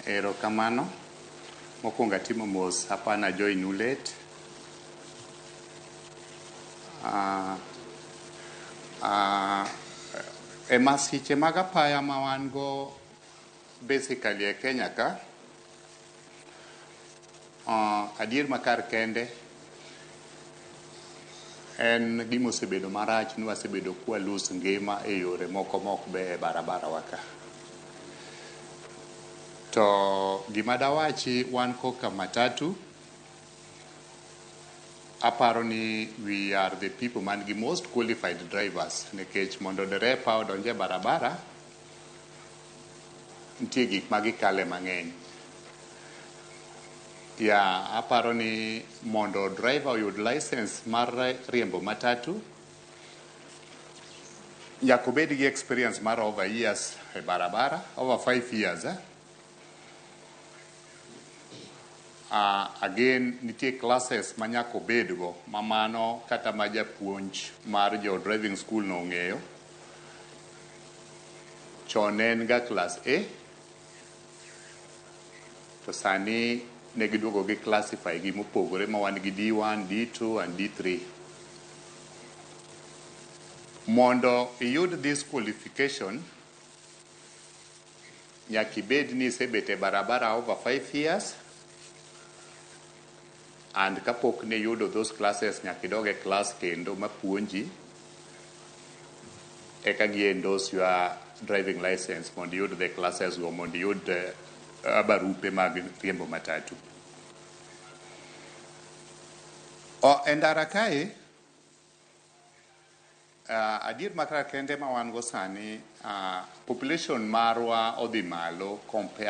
Erokamano. Mokwongo atimo mos apa na join u late. Ah, ah, e masiche mag apaya ma wan go basically e Kenya ka, Ah, adier makar kende en gima osebedo marach ni wasebedo kwa lose ngima e yore moko ma ok beyo e barabara wa ka. To gima dawachi wan koka matatu, aparo ni we are the people man gi most qualified drivers nikech mondo derepa odonj e barabara nitie gik ma gikale mang'eny. Ya, aparo ni mondo driver oyud license mar riembo matatu, nyaka obed gi experience mar over years e barabara, over five years. Eh? Uh, again, nitie classes ma nyaka obedgo, ma mano kata ma japuonj mar jo driving school no ong'eyo. chon ne en ga klas A to sani ne giduogo gi classify gi mopogore ma wan gi D1, D2 and D3. Mondo iyud this qualification nyaka ibed ni isebet e barabara over 5 years And kapok niyudo those classes nyaka idog e class kendo mapuonji eka gi endorse your driving license mondo iyud the classes go mondo iyud uh, barupe mag riembo matatu. O, e ndara kae uh, adier makra kende ma wan go sani uh, population marwa odhi malo compare